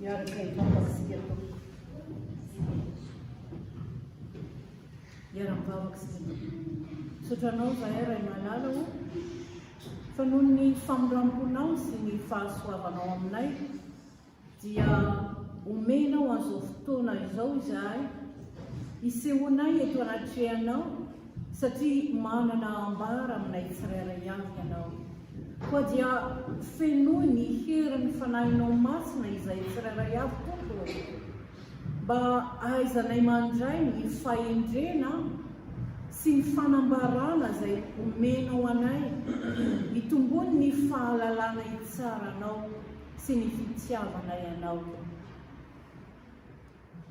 Miaraka indrindra isika tompoko sy mpiara-mianaka sy misaotra anao izahay Ray Malala o fa noho ny famindram-ponao sy ny fahasoavanao aminay dia omenao an'izao fotoana izao izahay hisehoanay eto anatrehanao satria manana ambara aminay tsirairay avy ianao Koa dia fenoy ny herin'ny Fanahinao Masina izay tsirairay avy, Tompo ô. Mba ahaizanay mandray ny fahendrena sy ny fanambarana izay omenao anay, hitombony ny fahalalana hitsara Anao sy ny hitiavanay Anao.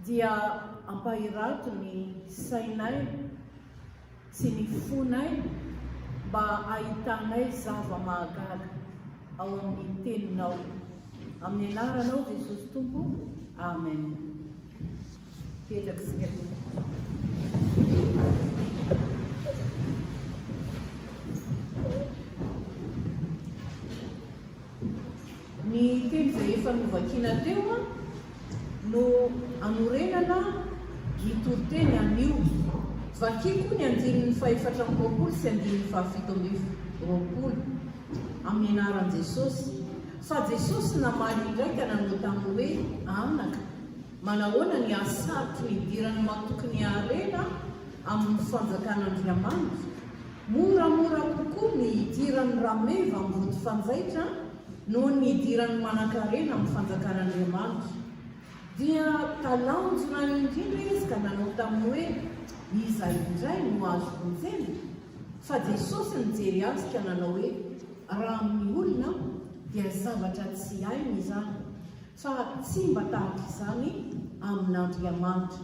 Dia ampahirato ny sainay sy ny fonay mba hahitanay zava-mahagaga ao amin'ny Teninao. Amin'ny Anaranao Jesosy Tompo, Amen. Petraka isika Tompo. Ny teny izay efa novakina teo no anorenana ny toriteny amin'io. Vakiko ny andininy fahefatra amby roapolo sy andininy fahafito amby roapolo, amin'ny anaran'i Jesosy, fa Jesosy namaly indray ka nanao taminy hoe, Anaka, manahoana ny hahasarotro ny hidiran'ny matoky ny harena amin'ny fanjakan'Andriamanitra? Moramora kokoa ny hidiran'ny rameva mboty fanjaitra noho ny hidiran'ny manankarena amin'ny fanjakan'Andriamanitra. Dia talanjona indrindra izy ka nanao taminy hoe, Iza indray no azo vonjena? Fa Jesosy nijery azy ka nanao hoe, Raha amin'ny olona aho, dia zavatra tsy hainy izany, fa tsy mba tahaka izany amin'Andriamanitra.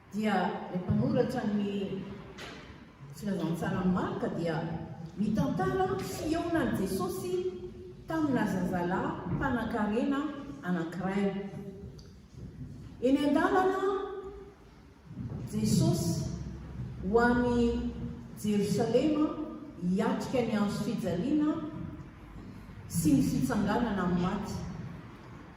dia ilay mpanoratra ny Filazantsara Marka dia mitantara fihaonan'i Jesosy tamina zazalahy mpanankarena anankiray. Eny an-dalana Jesosy ho any Jerosalema hiatrika ny andro fijaliana sy ny fitsanganana amin'ny maty.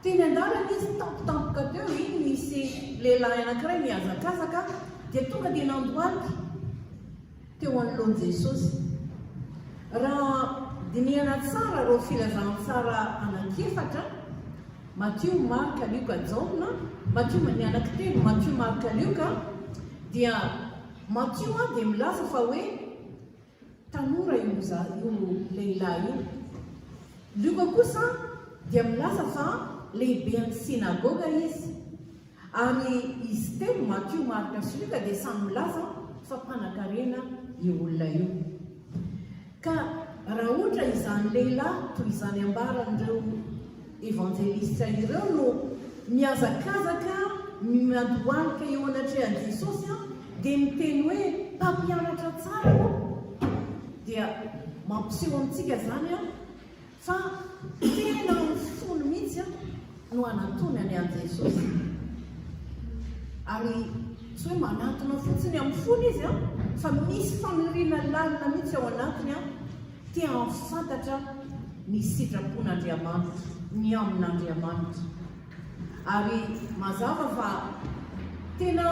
Teny an-dalana izy tampotampoka teo iny nisy lehilahy anankiray nihazakazaka dia tonga dia nandohalika teo anoloan'i Jesosy. Raha dinihana tsara ireo filazantsara anankiefatra, Matio, Marka, Lioka, Jaona, Matio ny anaky telo, Matio, Marka, Lioka, dia Matio dia milaza fa hoe Tanora io lehilahy io. Lioka kosa dia milaza fa lehiben'ny synagoga izy. Ary izy telo, Matio, Marka sy Lioka, dia samy milaza fa mpanakarena io olona io. Ka raha ohatra izany lehilahy toy izany ambaran'ireo Evanjelisitra ireo no mihazakazaka miandohalika eo anatrehan'i Jesosy dia miteny hoe, Mpampianatra tsara ô! Dia mampiseho amintsika izany fa tena amin'ny fony mihitsy no anantonany an'i Jesosy. Ary tsy hoe manantona fotsiny amin'ny fony izy fa misy faniriana lalina mihitsy ao anatiny Te hahafantatra ny sitrapon'Andriamanitra, ny amin'Andriamanitra. Ary mazava fa tena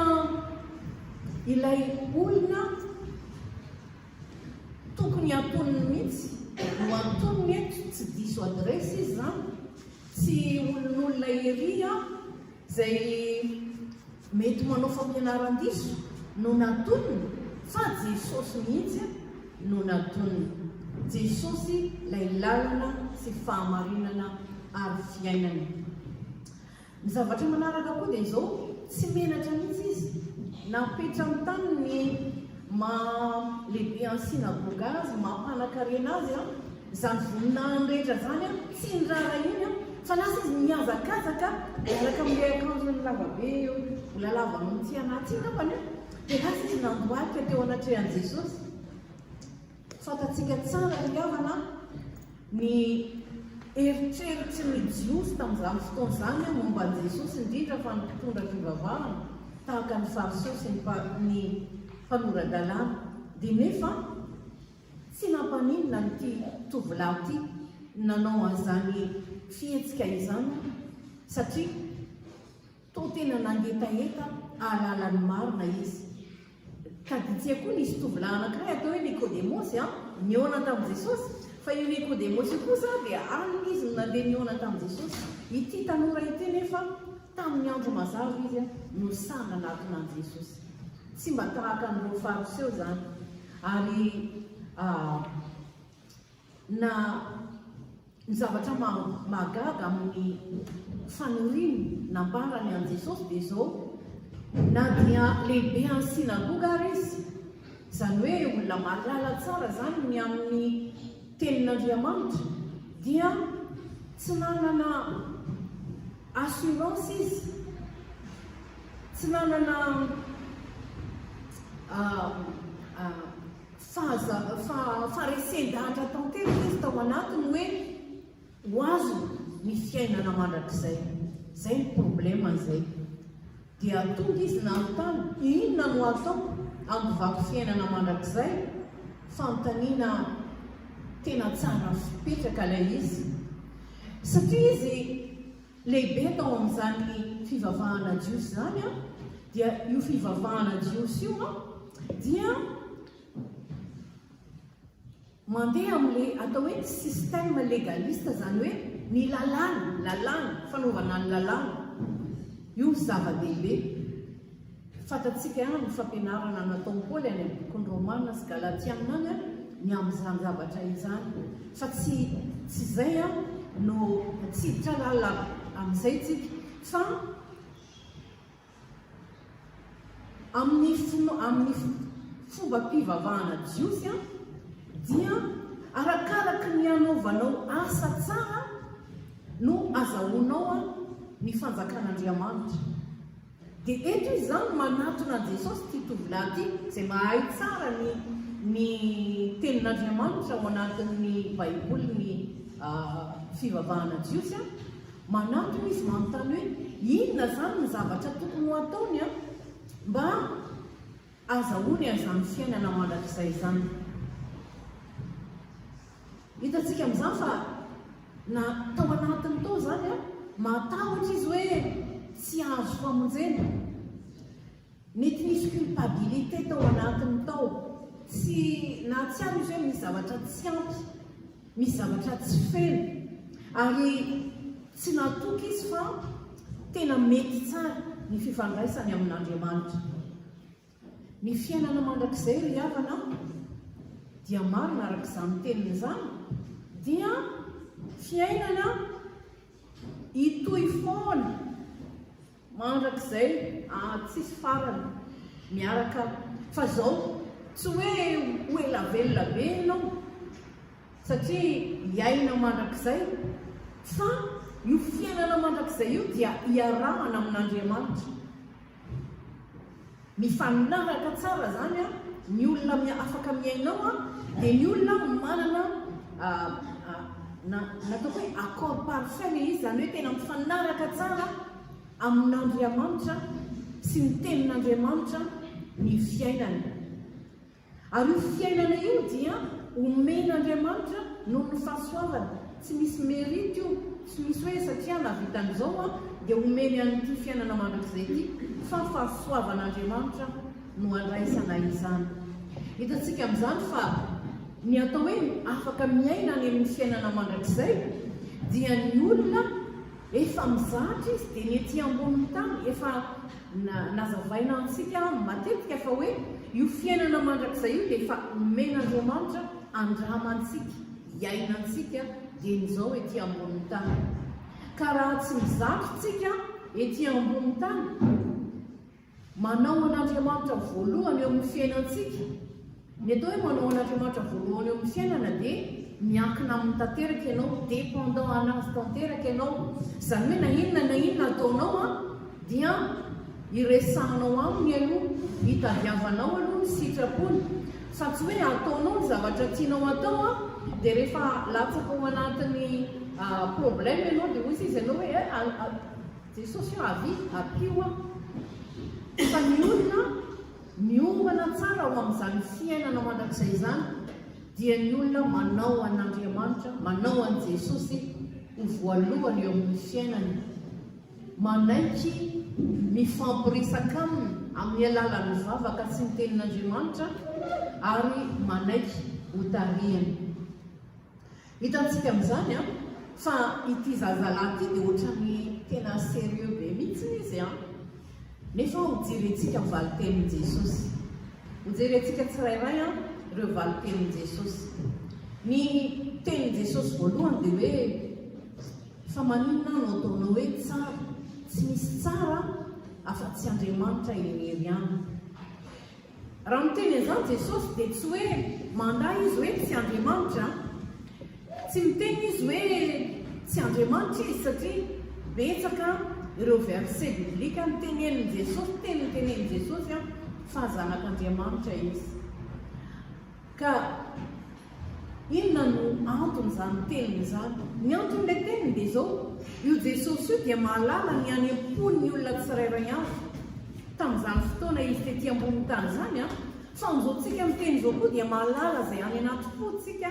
ilay olona tokony antoniny mihitsy no antoniny eto, tsy diso adresse izy izany, tsy olon'olona ery aho, Izay mety manao fampianaran-diso no natoniny fa Jesosy mihitsy no natoniny. Jesosy ilay lalana sy fahamarinana ary fiainana. Ny zavatra manaraka koa dia izao, tsy menatra mihitsy izy napetrany tany ny maha lehibe any synagoga azy, maha mpanakarena azy, Izany voninahiny rehetra izany an, tsy ny raharaha iny an, fa lasa izy mihazakazaka miaraka amin'ilay akanjony lavabe eo, mbola lava noho ny tsy anaty iny angambany an, dia lasa izy nandohalika teo anatrehan'i Jesosy. Fantatsika tsara ry havana an, ny eritreritrin'ny Jiosy tamin'izany fotoana izany an momba an'i Jesosy, indrindra fa ny mpitondra fivavahana tahaka ny Fariseo sy ny mpanora-dalàna, dia nefa Tsy nampaninona ity tovolahy ity nanao an'izany fihetsika izany satria toa tena nangetaheta hahalala ny marina izy. Kaditsia koa nisy tovolahy anankiray atao hoe Nikodemosy an, nihaona tamin'i Jesosy. Fa io Nikodemosy io kosa dia alina izy no nandeha nihaona tamin'i Jesosy. Ity tanora ity nefa Tamin'ny andro mazava izy no sahy nanatona an'i Jesosy. Tsy mba tahaka an'ireo Fariseo izany, ary na ny zavatra mahagaga amin'ny faniriany nambarany an'i Jesosy dia izao, na dia lehibe any synagoga ary izy, izany hoe olona malala tsara izany ny amin'ny tenin'Andriamanitra, dia tsy nanana Assurance izy tsy nanana faharesen-dahatra tanteraka izy tao anatiny hoe ho azony ny fiainana mandrakizay. Izay ny problème izay. Dia tonga izy nanontany, Inona no ataoko amin'ny vaky fiainana mandrakizay? Fanontaniana tena tsara fipetraka ilay izy, satria izy lehibe tao amin'izany fivavahana jiosy izany an, dia io fivavahana jiosy io an, dia Mandeha amin'le atao hoe système légaliste izany hoe ny lalàna, lalàna, fanaovana ny lalàna. Io no zava-dehibe. Fantatsika ihany amin'ny fampianarana nataon'i Paoly any amin'ny bokin'i Romana sy Galatiana any ny amin'izany zavatra izany. Fa tsy tsy izay no tsy hiditra lalina amin'izay tsika fa. Amin'ny fino, amin'ny fombam-pivavahana jiosy, dia arakaraka ny anaovanao asa tsara no azahoanao ny fanjakan'Andriamanitra. Dia eto izy izany manatona an'i Jesosy ity tovolahy ity, izay mahay tsara ny ny tenin'Andriamanitra ao anatin'ny Baiboly ny fivavahana jiosy. Manantona izy manontany hoe inona izany ny zavatra tokony ho ataony mba azahoany an'izany fiainana mandrakizay izany. Hitantsika amin'izany fa na tao anatiny tao izany, mahatahotra izy hoe tsy hahazo famonjena. Mety nisy culpabilité tao anatiny tao, tsy na tsy ampy izy hoe misy zavatra tsy ampy, misy zavatra tsy feno ary tsy natoky izy fa tena mety tsara ny fifandraisany amin'Andriamanitra. Ny fiainana mandrakizay ry havana dia marina araka izany teniny izany dia fiainana hitohy foana. Mandrakizay aa tsisy farany miaraka fa zao tsy hoe ho ela velona be enao satria hiaina mandrakizay fa io fiainana mandrakizay io dia iarahana amin'Andriamanitra. Mifanaraka tsara zany a, ny olona mi afaka miaina ao a dia ny olona manana a a na natao hoe accord parfait le izy zany hoe tena mifanaraka tsara amin'Andriamanitra sy ny tenin'Andriamanitra ny fiainany. Ary io fiainana io dia omen'Andriamanitra noho ny fahasoavany, tsy misy merite io, tsy misy hoe satria nahavita an'izao aho dia omeny an'ity fiainana mandrakizay ity, fa fahasoavan'Andriamanitra no andraisana izany. Hitantsika amin'izany fa ny atao hoe afaka miaina any amin'ny fiainana mandrakizay dia ny olona efa mizatra izy dia ny ety ambonin'ny tany efa Nazavaina amintsika matetika fa hoe io fiainana mandrakizay io dia efa omen'Andriamanitra andramantsika, iainantsika dieny izao ety ambonin'ny tany. Ka raha tsy mizatra tsika ety ambonin'ny tany, manao an'Andriamanitra voalohany eo amin'ny fiainantsika, Ny atao hoe manao an'Andriamanitra voalohany eo amin'ny fiainana dia miankina aminy tanteraka ianao, dépendant anazy tanteraka ianao, izany hoe na inona na inona ataonao an dia iresahanao aminy aloha, itadiavanao aloha ny sitrapony, fa tsy hoe ataonao ny zavatra tianao atao an dia rehefa latsaka ao anatin'ny problème ianao dia hoy izy anao hoe eh Jesosy ah avia ampio ah, fa ny olona Miomana tsara ao amin'izany fiainana mandrakizay izany dia ny olona manao an'Andriamanitra, manao an'i Jesosy ho voalohany eo amin'ny fiainany, manaiky mifampiresaka aminy amin'ny alalan'ny vavaka sy ny tenin'Andriamanitra ary manaiky ho tarihany. Hitantsika amin'izany an, fa ity zazalahy ity dia ohatran'ny tena serieux be mihitsy izy an! Nefa ho jerentsika ny valintenin'i Jesosy. Ho jerentsika tsirairay an, ireo valintenin'i Jesosy. Ny tenin'i Jesosy voalohany dia hoe, Fa maninona aho no ataonao hoe tsara? Tsy misy tsara afa-tsy Andriamanitra irery ihany. Raha miteny an'izany Jesosy dia tsy hoe mandà Izy hoe tsy Andriamanitra an! Tsy miteny Izy hoe tsy Andriamanitra Izy satria betsaka ireo verset biblique nitenenin'i Jesosy, teny nitenenin'i Jesosy an, fa Zanak'Andriamanitra Izy. Ka. Inona no anton'izany teniny izany? Ny anton'ilay teniny dia izao, io Jesosy io dia mahalala ny any am-pon'ny olona tsirairay avy. Tamin'izany fotoana izy tety ambonin'ny tany izany, fa amin'izao tsika miteny izao koa dia mahalala izay any anaty pontsika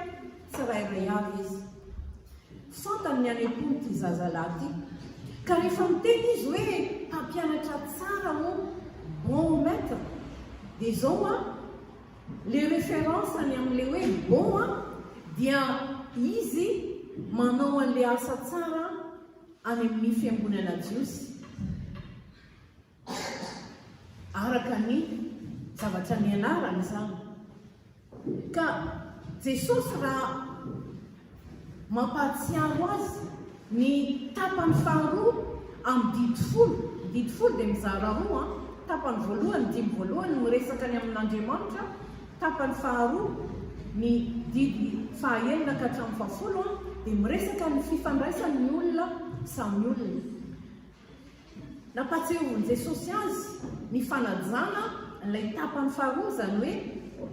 tsirairay avy izy. Fantany ny any am-pon'ity zazalahy ity. Ka rehefa miteny izy hoe mpampianatra tsara ô, bon maître, dia izao an, Le reference ny amle hoe bon a dia izy manao anle asa tsara any amin'ny fiangonana jiosy araka ny zavatra nianarany izany ka jesosy raha Mampahatsiaro azy ny tapany faharoa amin'ny didy folo. Ny didy folo dia mizara roa an, tapany voalohany, ny dimy voalohany miresaka ny amin'Andriamanitra, tapany faharoa, ny didy fahaenina ka hatramin'ny fahafolo an, dia miresaka ny fifandraisan'ny olona samy olona. Nampahatsiaroviny Jesosy azy ny fanajana ilay tapany faharoa, izany hoe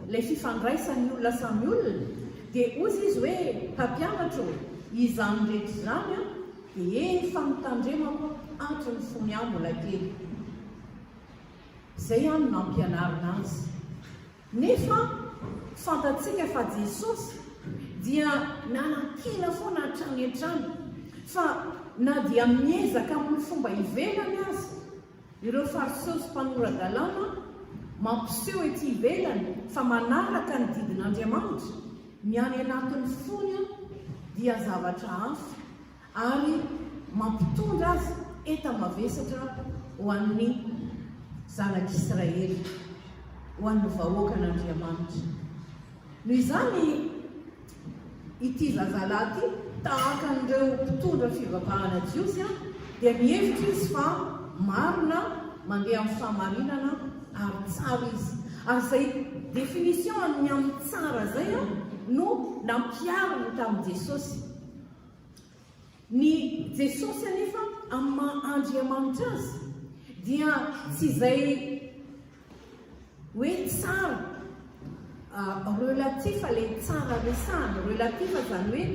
ilay fifandraisan'ny olona samy olona, dia hozy Izy hoe, Mpampianatra ô, izany rehetra izany dia efa notandremako hatrin'ny fony aho mbola kely. Izay no nampianarina Azy. Nefa fantatsika fa Jesosy dia nanakiana foana hatrany hatrany fa na dia miezaka amin'ny fomba ivelany aza ireo Fariseo sy mpanora-dalàna mampiseho ety ivelany fa manaraka ny didin'Andriamanitra, ny any anatin'ny fony dia zavatra hafa. ary mampitondra azy enta-mavesatra ho an'ny zanak'Israely, ho an'ny vahoakan'Andriamanitra. Noho izany, ity zazalahy ity, tahaka an'ireo mpitondra fivavahana jiosy, dia mihevitra izy fa marina, mandeha amin'ny fahamarinana ary tsara izy. Ary izay définition an'ny amin'ny tsara izay no nampihariny tamin'i Jesosy. Ny Jesosy anefa amin'ny maha Andriamanitra Azy dia tsy izay hoe tsara ah, relatif ilay tsara resahana, relatif izany hoe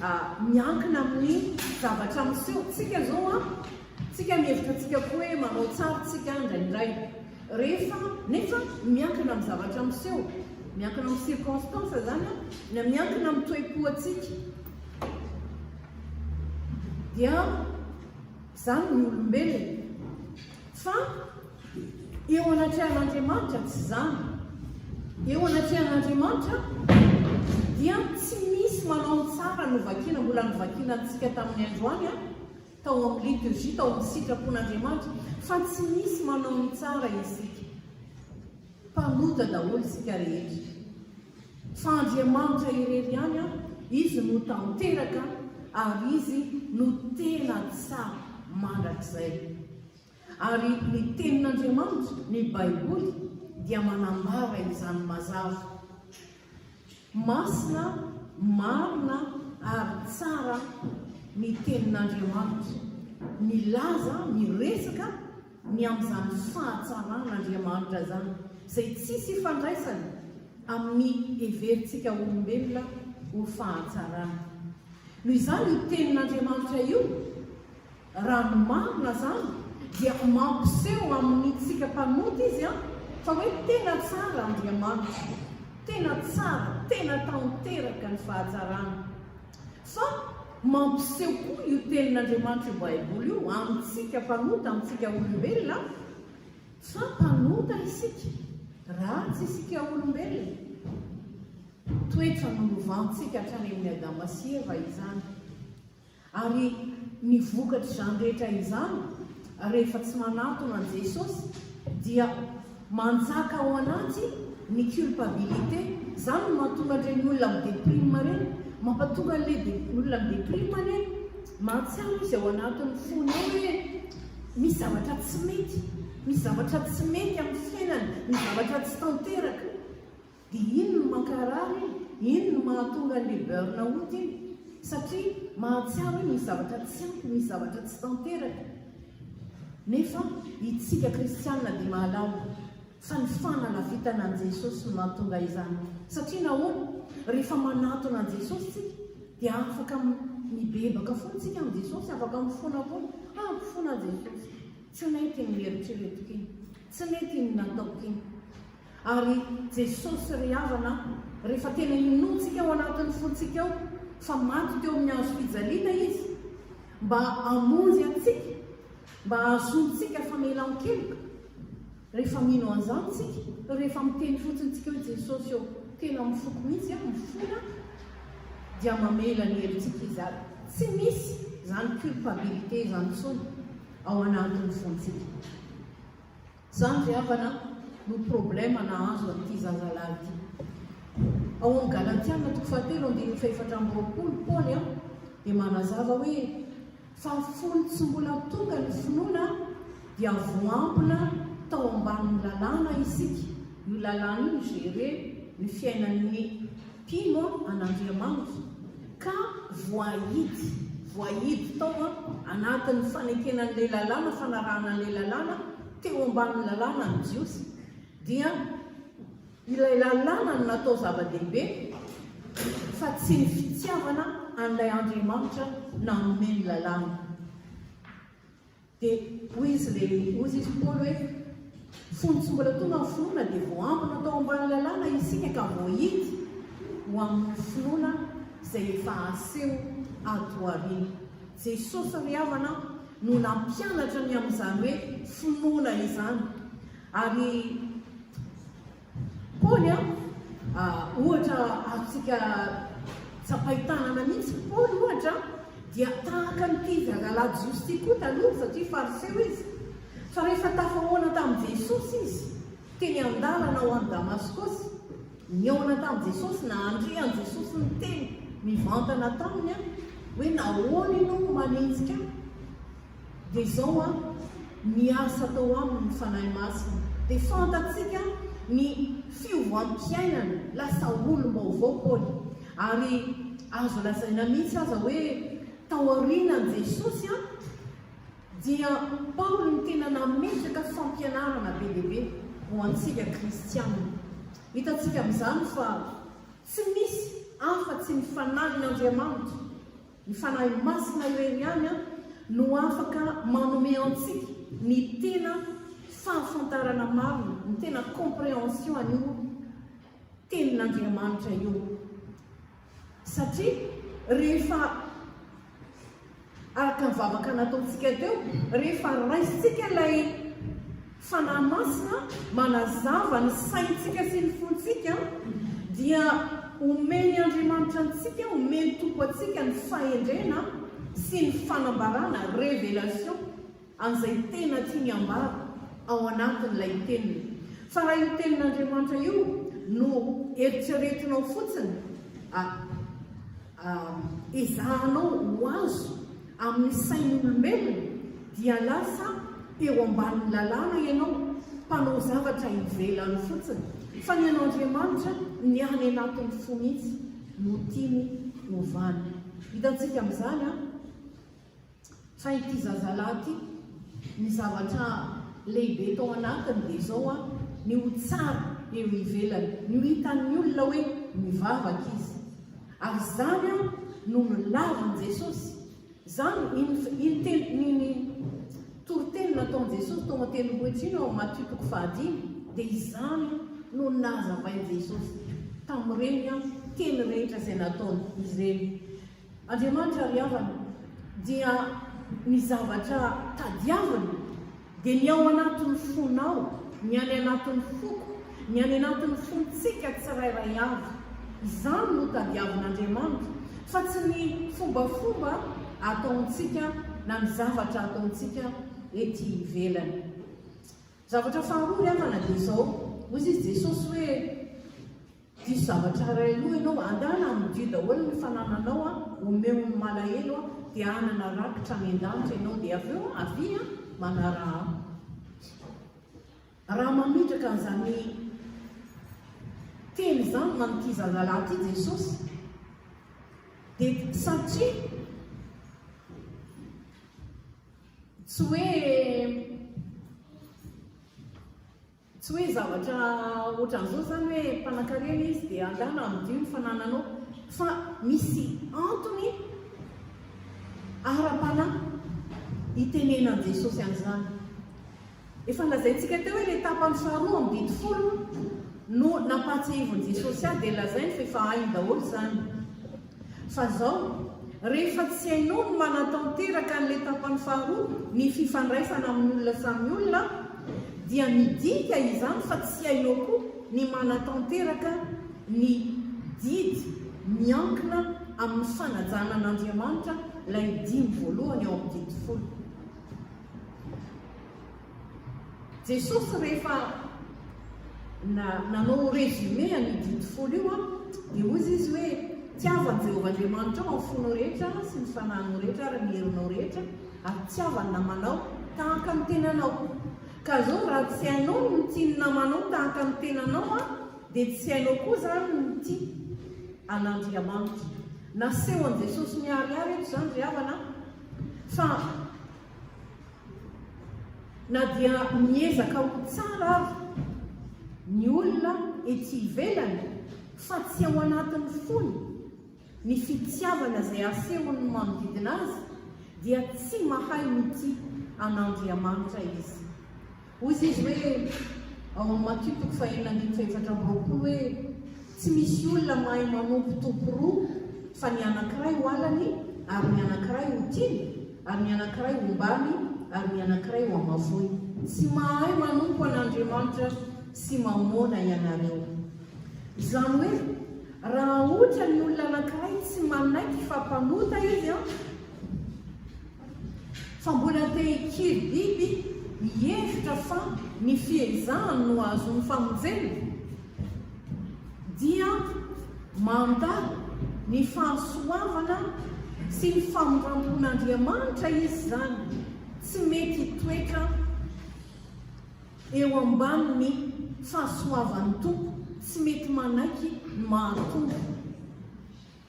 ah, miankina amin'ny zavatra miseho. Tsika izao an, ah, tsika mihevitra tsika koa hoe manao tsara tsika indraindray. Rehefa, nefa, miankina amin'ny zavatra miseho, miankina amin'ny circonstances izany an, na miankina amin'ny toe-po antsika, dia izany ny olombelona. Fa eo anatrehan'Andriamanitra tsy izany. Eo anatrehan'Andriamanitra dia tsy misy manao ny tsara novakiana, mbola novakiana antsika tamin'ny androany an, tao amin'ny liturgie, tao amin'ny sitrapon'Andriamanitra, fa tsy misy manao ny tsara isika. Mpanota daholo isika rehetra. Fa Andriamanitra irery ihany an, Izy no tanteraka ary Izy no tena tsara mandrakizay. Ary ny Tenin'Andriamanitra, ny Baiboly, dia manambara izany mazava. Masina, marina, ary tsara ny Tenin'Andriamanitra. Milaza, miresaka ny amin'izany fahatsaran'Andriamanitra izany, izay tsisy ifandraisany amin'ny heverintsika olombelona ho fahatsarana. Noho izany io Tenin'Andriamanitra io, Raha ny marina izany dia mampiseho amintsika mpanota izy fa hoe tena tsara Andriamanitra, tena tsara, tena tanteraka ny fahatsarany. Fa mampiseho koa io tenin'Andriamanitra io Baiboly io amintsika mpanota, amintsika olombelona fa mpanota isika, ratsy isika olombelona. Toetra nolovantsika hatrany amin'ny Adama sy Eva izany. Ary ny vokatr'izany rehetra izany, rehefa tsy manatona an'i Jesosy, dia manjaka ao anaty ny culpabilité. Izany no mahatonga an'ireny olona mi-deprime ireny, mampatonga an'ilay olona mi-deprime anie, mahatsiaro izy ao anatin'ny fony ao hoe misy zavatra tsy mety, misy zavatra tsy mety amin'ny fiainany, misy zavatra tsy tanteraka. Dia iny no mankarary iny, iny no mahatonga an'ilay burn out iny, satria mahatsiaro hoe misy zavatra tsy ampy, misy zavatra tsy tanteraka. Nefa itsika kristianina dia mahalala fa ny fanalafitana an'i Jesosy no mahatonga izany. Satria nahoana? Rehefa manatona an'i Jesosy tsika, dia afaka mibebaka foana tsika amin'i Jesosy, afaka mifona foana, ah mifona Jesosy, tsy nety iny neritreretiko iny, tsy nety iny nataoko iny. Ary Jesosy ry havana a, rehefa tena inoantsika ao anatin'ny fontsika ao fa maty teo amin'ny hazo fijaliana Izy mba hamonjy antsika, mba hahazoantsika famelan-keloka, rehefa mino an'izany tsika, rehefa miteny fotsiny tsika hoe Jesosy ô, tena mifoko mihitsy a, mifona, dia mamela ny helotsika Izy ary tsy misy izany culpabilité izany intsony ao anatin'ny fontsika. Zany ry havana no problème nahazo an'ity zazalahy ity. Ao amin'ny Galatiana toko fahatelo andininy fahefatra amby roapolo Paoly dia manazava hoe fa fony tsy mbola tonga ny finoana dia voampina tao ambanin'ny lalàna isika. Io lalàna io mi-gérer ny fiainan'ny Tino an' Andriamanitra ka voahidy, voahidy tao an, anatin'ny fanekena an'ilay lalàna, fanarahana an'ilay lalàna, teo ambanin'ny lalàna ny Jiosy, dia ilay lalàna no natao zava-dehibe fa tsy ny fitiavana an'ilay Andriamanitra nanome ny lalàna. Dia hoy izy ilay hoy izy i Paoly hoe, Fony tsy mbola tonga ny finoana dia voaambina tao ambany lalàna isika ka voahidy ho amin'ny finoana izay efa aseho ato aoriana. Jesosy ry havana no nampianatra ny amin'izany hoe finoana izany ary Paoly an! ohatra azontsika tsapain-tanana mihitsy, Paoly ohatra dia tahaka an'ity zazalahy jiosy ity koa taloha satria fariseo izy, fa rehefa tafahoana tamin'i Jesosy izy teny an-dalana ho any Damaskosy, nihaona tamin'i Jesosy, nandre an'i Jesosy niteny mivantana taminy hoe nahoana ianao no manenjika ahy? Dia izao an, ny asa atao aminy ny Fanahy Masina dia fantatsika ny fiovam-piainana, lasa olom-baovao Paoly, ary azo lazaina mihitsy aza hoe taorianan'i Jesosy an, dia Paoly no tena nametraka fampianarana be dia be ho antsika kristiana. Hitantsika amin'izany fa tsy misy afa-tsy ny Fanahin'Andriamanitra. Ny Fanahy Masina irery ihany no afaka manome antsika ny tena fahafantarana marina, ny tena comprehension an'io tenin'Andriamanitra io. Satria rehefa araka ny vavaka nataontsika teo, rehefa raisintsika ilay Fanahy Masina manazava ny saintsika sy ny fontsika dia omen'i Andriamanitra antsika, omen'ny Tompo antsika ny fahendrena sy ny fanambarana, révélation, an'izay tena tiany hambara ao anatin'ilay teniny. Fa raha io tenin'Andriamanitra io no eritreretinao fotsiny, ah. ezahanao ho azo amin'ny sain'olombelona dia lasa teo ambanin'ny lalàna ianao, mpanao zavatra ivelany fotsiny, fa ny an'Andriamanitra ny any anatin'ny fo mihitsy no tiany hovana. Hitantsika amin'izany an! Fa ity zazalahy ity, ny zavatra lehibe tao anatiny dia izao an, ny ho tsara eo ivelany, ny ho hitan'ny olona hoe mivavaka izy. Ary izany an no nolavin'i Jesosy. Izany ny ny toriteny nataon'i Jesosy tao an-tendrombohitra iny ao Matio toko fahadimy, dia izany no nazavain'i Jesosy tamin'ireny teny rehetra izay nataony ireny. Andriamanitra ry havana dia ny zavatra tadiaviny dia ny ao anatin'ny fonao, ny any anatin'ny foko, ny any anatin'ny fontsika tsirairay avy. Izany no tadiavin'Andriamanitra fa tsy ny fombafomba ataontsika na ny zavatra ataontsika ety ivelany. Zavatra faharoa ry havana dia izao, hoy izy Jesosy hoe. Diso zavatra iray aloha ianao, andana amodio daholo ny fanananao an, omeo ny malahelo an, dia hanana rakitra any an-danitra ianao, dia avy eo avia an, manaraha ahy. Raha mametraka an'izany teny izany man'ity zazalahy ity Jesosy, dia satria tsy hoe Tsy hoe zavatra ohatran'izao izany hoe mpanankarena izy dia angaha namadio ny fanananao, fa misy antony ara-panahy itenenan'i Jesosy an'izany. Efa lazaintsika teo hoe ilay tapany faharoa amin'ny didy folo no nampahatsiahivin'i Jesosy ahy dia lazainy fa efa hainy daholo izany. Fa zao, rehefa tsy hainao ny manatanteraka an'ilay tapany faharoa, ny fifandraisana amin'ny olona samy olona, dia midika izany fa tsy hainao koa ny manatanteraka ny didy miankina amin'ny fanajana an'Andriamanitra, ilay dimy voalohany ao amin'ny didy folo. Jesosy rehefa na, nanao résumé an'io didy folo io an, dia hoy Izy hoe, Tiavo an'i Jehovah Andriamanitrao amin'ny fonao rehetra sy ny fanahinao rehetra ary ny herinao rehetra, ary tiavo ny namanao tahaka ny tenanao. Ka izao raha tsy hainao ny mitia ny namanao tahaka ny tenanao an, dia tsy hainao koa izany ny mitia an'Andriamanitra. Nasehon'i Jesosy miharihary eto izany ry havana an, fa. Na dia miezaka ho tsara aza ny olona ety ivelany fa tsy ao anatin'ny fony ny fitiavana izay asehon'ny manodidina azy dia tsy mahay mitia an'Andriamanitra izy. Hoy izy hoe, ao amin'ny Matio toko faheenina andininy fahefatra amby roapolo hoe, Tsy misy olona mahay manompo tompo roa, fa ny anankiray ho halany, ary ny anankiray ho tiany, ary ny anankiray ho ombàny, ary ny anankiray ho hamafoiny. Tsy mahay manompo an'Andriamanitra sy Mamôna ianareo. Izany hoe, raha ohatra ny olona anankiray tsy manaiky fa mpanota izy, fa mbola te hikely biby mihevitra fa ny fiezahany no ahazoany famonjena, dia mandà ny fahasoavana sy ny famindrampon'Andriamanitra izy izany, tsy mety hitoetra eo ambanin'ny fahasoavan'ny Tompo, tsy mety manaiky ny maha Tompo.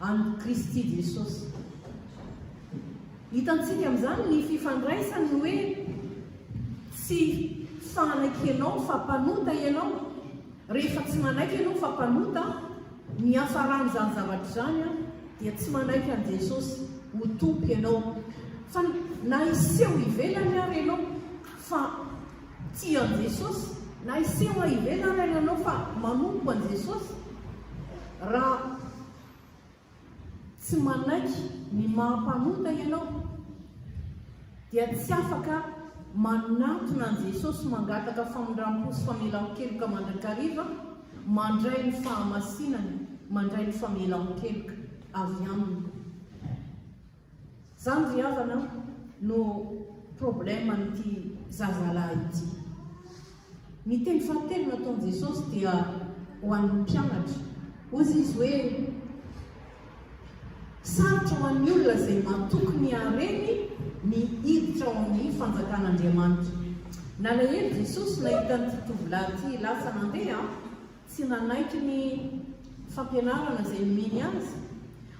an'i Kristy Jesosy. Hitantsika amin'izany ny fifandraisany ny hoe tsy fanaiky ianao fa mpanota ianao. Rehefa tsy manaiky ianao fa mpanota, ny hafaran'izany zavatra izany dia tsy manaiky an'i Jesosy ho Tompo ianao. Fa na hiseho ivelany ary ianao fa Tsy an'i Jesosy, na hiseho any ivelany ary ianao fa manompo an'i Jesosy, raha tsy manaiky ny maha mpanota ianao, dia tsy afaka manatona an'i Jesosy mangataka famindram-po sy famelan-keloka mandrakariva, mandray ny fahamasinany, mandray ny famelan-keloka avy Aminy. Zany ry havana no problème an'ity zazalahy ity. Ny teny fahatelo nataon'i Jesosy dia ho an'ny mpianatra. Hozy izy hoe, sarotra ho an'ny olona izay matoky ny hareny ny hiditra ao amin'ny fanjakan'Andriamanitra. Nalahelo Jesosy nahita an'ity tovolahy ity lasa nandeha, Tsy nanaiky ny fampianarana izay nomeny azy.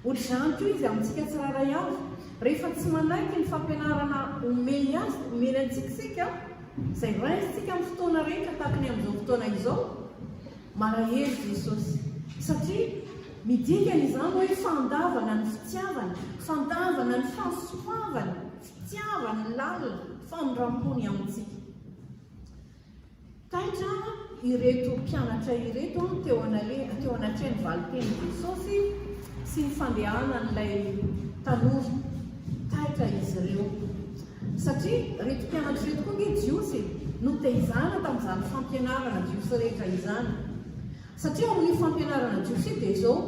Hoatr'izany koa izy amintsika tsirairay avy. Rehefa tsy manaiky ny fampianarana omeny azy, omeny antsika isika, izay raisintsika amin'ny fotoana rehetra tahaka ny amin'izao fotoana izao, malahelo Jesosy. Satria midika izany hoe fandavana ny fitiavany, fandavana ny fahasoavany, fitiavany lalina, famindram-pony amintsika. Taitra ireto mpianatra ireto teo anatrehan'ny valin-tenin'i Jesosy sy ny fandehanan'ilay tanora. Taitra izy ireo. Satria ireto mpianatra ireto koa ange Jiosy e, noteizana tamin'izany fampianarana Jiosy rehetra izany. Satria ao amin'io fampianarana Jiosy io dia izao,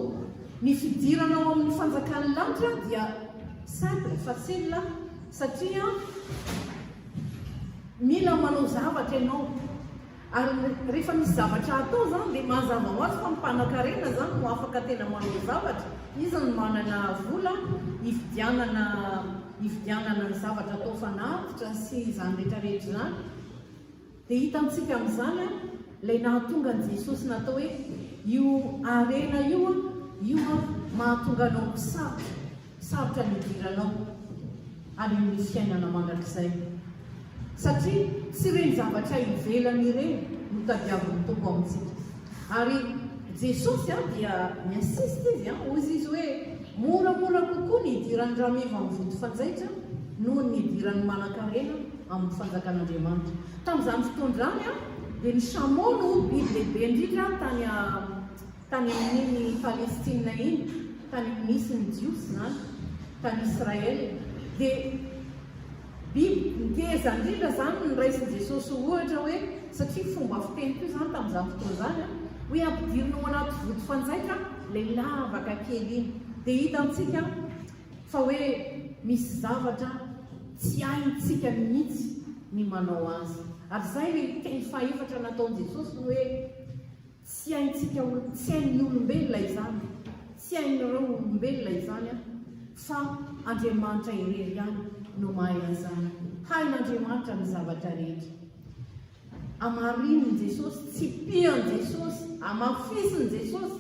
ny fidirana ao amin'ny fanjakan'ny lanitra dia simple, facile, satria Mila manao zavatra ianao ary rehefa misy zavatra hatao izany dia mazava ho azy fa ny mpanan-karena izany no afaka tena manao zavatra, izy no manana vola hividianana hividianana ny zavatra atao fanatitra sy izany rehetra rehetra izany. Dia hitantsika amin'izany ilay nahatonga an'i Jesosy natao hoe io harena io, io mahatonga anao misava. Sarotra ny hidiranao any amin'ny fiainana mandrakizay, satria tsy ireny zavatra ivelany ireny no tadiavin'ny Tompo amintsika. Ary Jesosy dia mi-insiste Izy, hoy Izy hoe, Moramora kokoa ny hidiran'ny rameva amin'ny vody fanjaitra noho ny hidiran'ny manankarena amin'ny fanjakan'Andriamanitra. Tamin'izany fotoan'izany dia ny chameau no biby lehibe indrindra tany. Tany amin'iny Palestina iny, tany misy ny Jiosy izany, tany Israel, dia biby nteza indrindra izany no raisin'i Jesosy ho ohatra hoe, satria fomba fiteny koa izany tamin'izany fotoana izany, hoe ampidirina ao anaty vody fanjaitra ilay lavaka kely iny. Dia hitantsika fa hoe misy zavatra tsy haintsika mihitsy ny manao azy. Ary izay ilay teny fahefatra nataon'i Jesosy hoe, Tsy haintsika ho tsy hain'ny olombelona izany, tsy hain'ireo olombelona izany an, fa Andriamanitra irery ihany no mahay an'izany. Hain'Andriamanitra ny zavatra rehetra. Amarinin'i Jesosy, tsipihan'i Jesosy, amafisin'i Jesosy.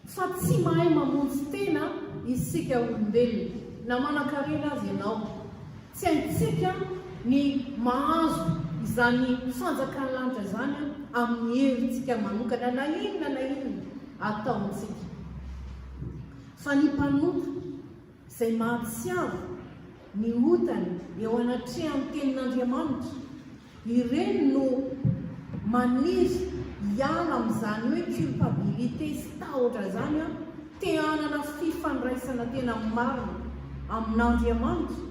Fa tsy mahay mamonjy tena isika olombelona, na manan-karena aza ianao. Tsy haintsika ny mahazo izany fanjakan'ny lanitra izany amin'ny herintsika manokana, na inona na inona ataontsika. Fa ny mpanota. izay mampiseho ny otany eo anatrehan'ny Tenin'Andriamanitra, ireny no maniry hiala amin'izany hoe culpabilité sy tahotra izany an, te hanana fifandraisana tena marina amin'Andriamanitra,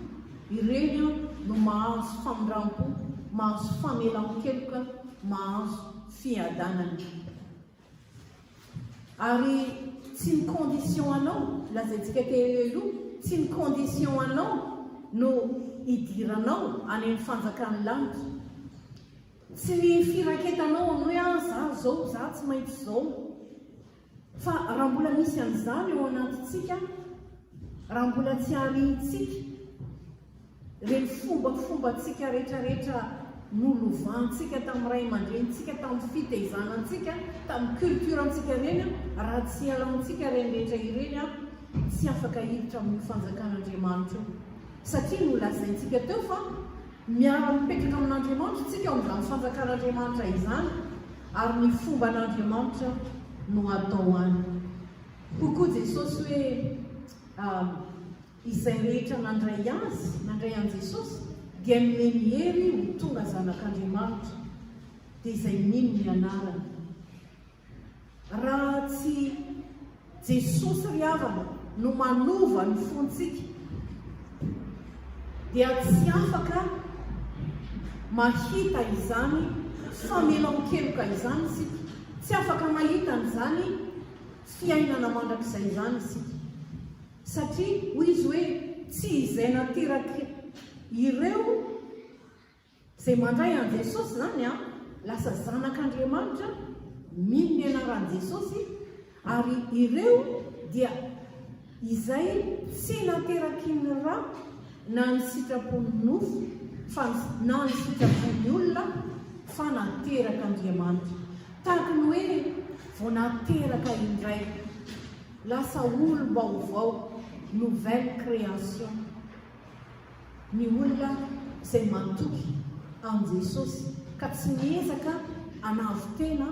ireny an no mahazo famindrampo, mahazo famelan-keloka, mahazo fiadanana. Ary tsy ny condition anao, lazaintsika teo eo io, tsy ny condition anao no idiranao any amin'ny fanjakan'ny lanitra. Tsy ny firaketanao amin'ny hoe ah za zao, za tsy maintsy zao. Fa raha mbola misy an'izany eo anatintsika, raha mbola tsy arintsika, Ireny fombafombantsika rehetrarehetra nolovantsika tamin'ny ray aman-drenintsika, tamin'ny fitaizanantsika, tamin'ny culturantsika ireny, raha tsy alaontsika ireny rehetra ireny, tsy afaka hiditra amin'io fanjakan'Andriamanitra io. Satria nolazaintsika teo fa miara-mipetraka amin'Andriamanitra isika ao amin'izany fanjakan'Andriamanitra izany, ary ny fomban'Andriamanitra no atao any. Hoy koa Jesosy hoe. Izay rehetra nandray Azy, nandray an'i Jesosy, dia nomeny hery ho tonga zanak'Andriamanitra, dia izay mino ny anarany. Raha tsy Jesosy ry havana no manova ny fontsika, dia tsy afaka mahita izany famelan-keloka izany isika, tsy afaka mahita an'izany fiainana mandrakizay izany isika. Satria hoy izy hoe, Tsy izay naterak' ireo izay mandray an'i Jesosy izany an, lasa zanak' Andriamanitra, mino ny anaran'i Jesosy, ary ireo dia izay tsy nateraky ny ra na ny sitrapon'ny nofo, fa na ny sitrapon'ny olona, fa naterak' Andriamanitra. Tahaka ny hoe vao nateraka indray. Lasa olom-baovao, nouvelle création, ny olona izay matoky an'i Jesosy ka tsy miezaka hanavo tena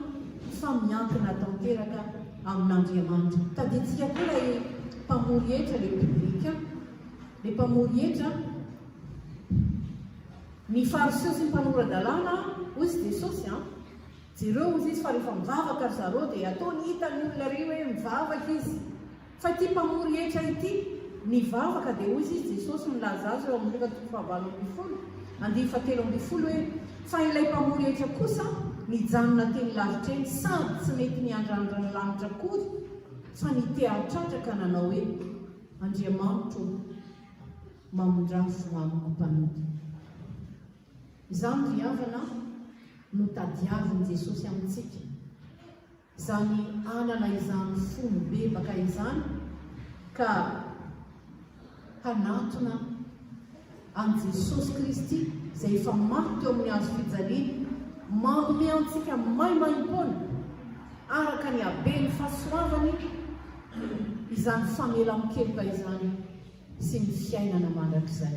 fa miankina tanteraka amin'Andriamanitra. Tadidintsika koa ilay mpamory hetra, ilay publicain, ilay mpamory hetra. Ny Fariseo sy ny mpanora-dalàna, hoy Jesosy, Jereo ozy izy fa rehefa mivavaka ry zareo dia ataony hita ny olona ery hoe mivavaka izy. Fa ity mpamory hetra ity nivavaka dia ozy izy Jesosy milaza azy eo amin'ny Lova toko fahavalo ambin'ny folo andinin'ny fahatelo ambin'ny folo hoe fa ilay mpamory hetra kosa nijanona teny lavitra eny sady tsy mety niandrandra ny lanitra akory fa nitehatratra ka nanao hoe Andriamanitro ô mamindrafo amiko mpanompony. Izany ry havana no tadiavin'i Jesosy amintsika, izany hanana izany fo mibebaka izany ka hanatona an'i Jesosy Kristy izay efa maty teo amin'ny hazo fijaliana, manome antsika maimaimpoana araka ny haben'ny fahasoavany izany famelan-keloka izany sy ny fiainana mandrakizay.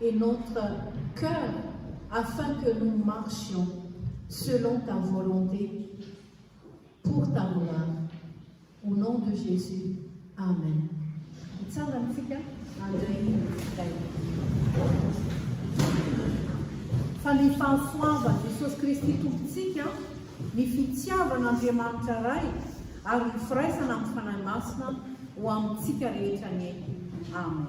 et notre cœur afin que nous marchions selon ta volonté pour ta gloire au nom de Jesus amen hitsangantsika handray ny fa ny fahasoavan'i Jesosy Kristy Tompontsika, ny fitiavan'Andriamanitra Ray ary ny firaisana amin'ny Fanahy Masina ho amintsika rehetra anie. Amen.